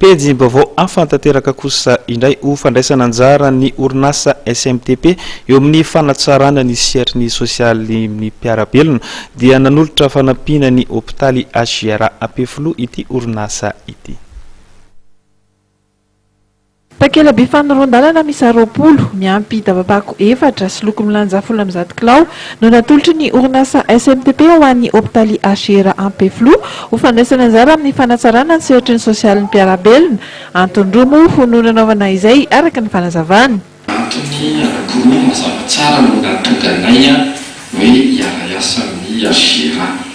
Pejim-baovao hafa tanteraka kosa indray ho fandraisana anjara ny orinasa SMTP eo amin'ny fanatsarana ny sehatry ny sosialy ny mpiara-belona dia nanolotra fanampiana ny hopitaly HJRA Ampefiloha ity orinasa ity. Takela-by fanoloran-dalana miisa roapolo, miampy daba-pako efatra sy loko milanja folo amby zato kilao no natolotry ny orinasa SMTP ho an'ny hopitaly HR Ampefiloha ho fandraisana anjara amin'ny fanatsarana ny sehatry ny sosialin'ny mpiara-belona. Antony roa moa ho no nanaovana izay araka ny fanazavany. Antony anankiroa mazava tsara no nahatonga anay hoe hiara-hiasa amin'ny HR.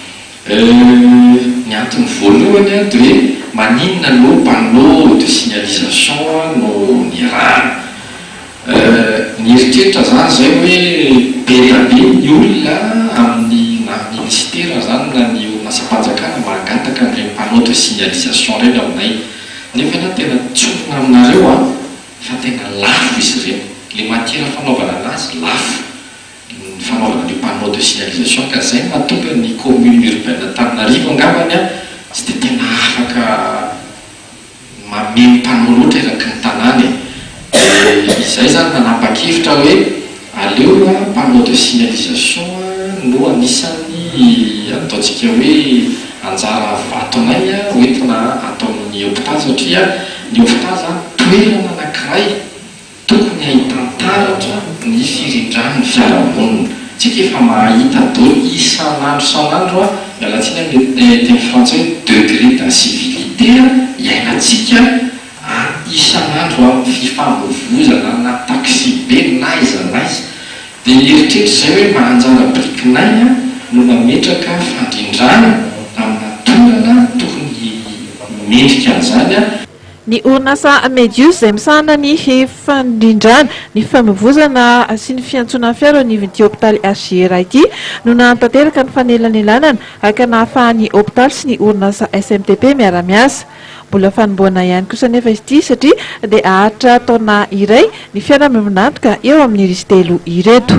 Euh, ny antony voalohany an de hoe maninona no panneau de signalisation no nirahana? Euh, nieritreritra zany zay hoe beda be ny olona amin'ny na minisitera zany na ny orinasam-panjakana mangataka an'ireny panneau de signalisation ireny aminay nefa na tena tsorina aminareo an fa tena lafo izy ireny, le matiera fanaovana anazy lafo. ny fanaovana an'io panneau de signalisation ka zay no mahatonga ny commune urbaine Antananarivo angambany an tsy dia tena afaka mameno panneau loatra eraky ny tanàna e! dia izay zany nanapa-kevitra hoe aleo aloha panneau de signalisation no anisan'ny ataontsika hoe anjara vatonay ho entina atao amin'ny hopitaly satria ny hopitaly zany toerana anankiray Tokony hahita taratra ny firindran'ny fiarahamonina. Tsika efa mahahita don isan'andro isan'andro a, miala tsiny amin'ny teny frantsay hoe degré d'incivilité iainantsika a isan'andro a, fifamoivozana na taxibe n'aiza n'aiza. Dia eritreritro izay hoe mba anjara birikinay a no mametraka fandrindrana amina toerana tokony mendrika an'izany a. Ny orinasa Medius izay misahana ny fandrindrana ny famoivozana sy ny fiantsoana fiara eo anivon'ity hopitaly HJR ity no nahatanteraka ny fanelanelanana haka nahafahan'ny hopitaly sy ny orinasa SMTP miara-miasa. Mbola fanombohana ihany kosa anefa izy ity satria dia haharitra taona iray ny fiara miombon'antoka eo amin'ny izy telo ireto.